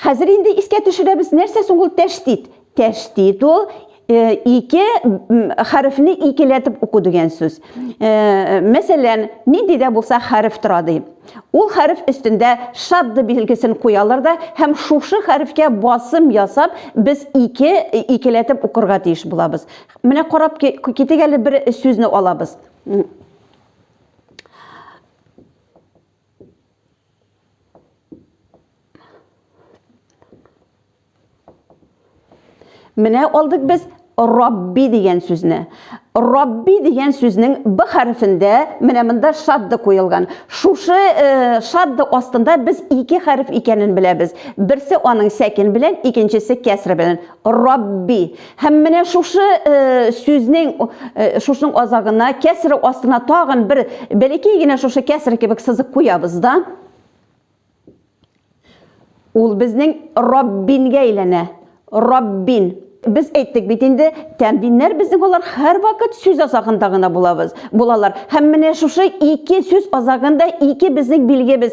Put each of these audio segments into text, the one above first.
Хәзер инде искә төшерәбез, нәрсә соң ул тәштит? Тәштит ул э, ике хәрефне икеләтеп уку дигән сүз. Э, мәсәлән, нинди дә булса хәреф тора ди. Ул хәреф өстендә шадды билгесен куялар да һәм шушы хәрефкә басым ясап, без ике икеләтеп укырга тиеш булабыз. Менә карап китик әле бер сүзне алабыз. Менә алдык без Рабби дигән сүзне. Рабби дигән сүзнең б хәрефендә менә монда шадды куелган. Шушы э, шадды астында без ике хәреф икәнен беләбез. Берсе аның сәкин белән, икенчесе кәср белән. Рабби. Һәм менә шушы э, сүзнең э, шушының азагына кәсер астына тагын бер бәләкәй генә шушы кәсер кебек сызык куябыз да. Ул безнең Раббингә әйләнә. Раббин. Без әйттек бит инде, тәмдиннәр безнең алар һәрвакыт сүз азагында гына булабыз, булалар. Һәм менә шушы ике сүз азагында ике безнең билгебез,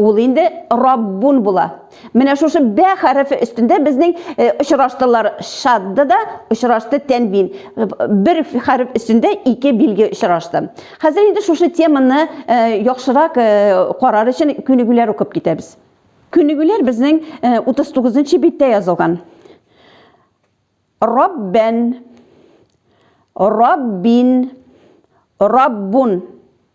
Ул инде Раббун була. Менә шушы бә хәрефе өстендә безнең э, очраштылар шадды да очрашты тәнвин. Бер хәреф өстендә ике билге очрашты. Хәзер инде шушы теманы э, яхшырак э, карар өчен күнегүләр укып китәбез. Күнегүләр безнең 39 нчы биттә язылган. Раббен, Раббин, Раббун.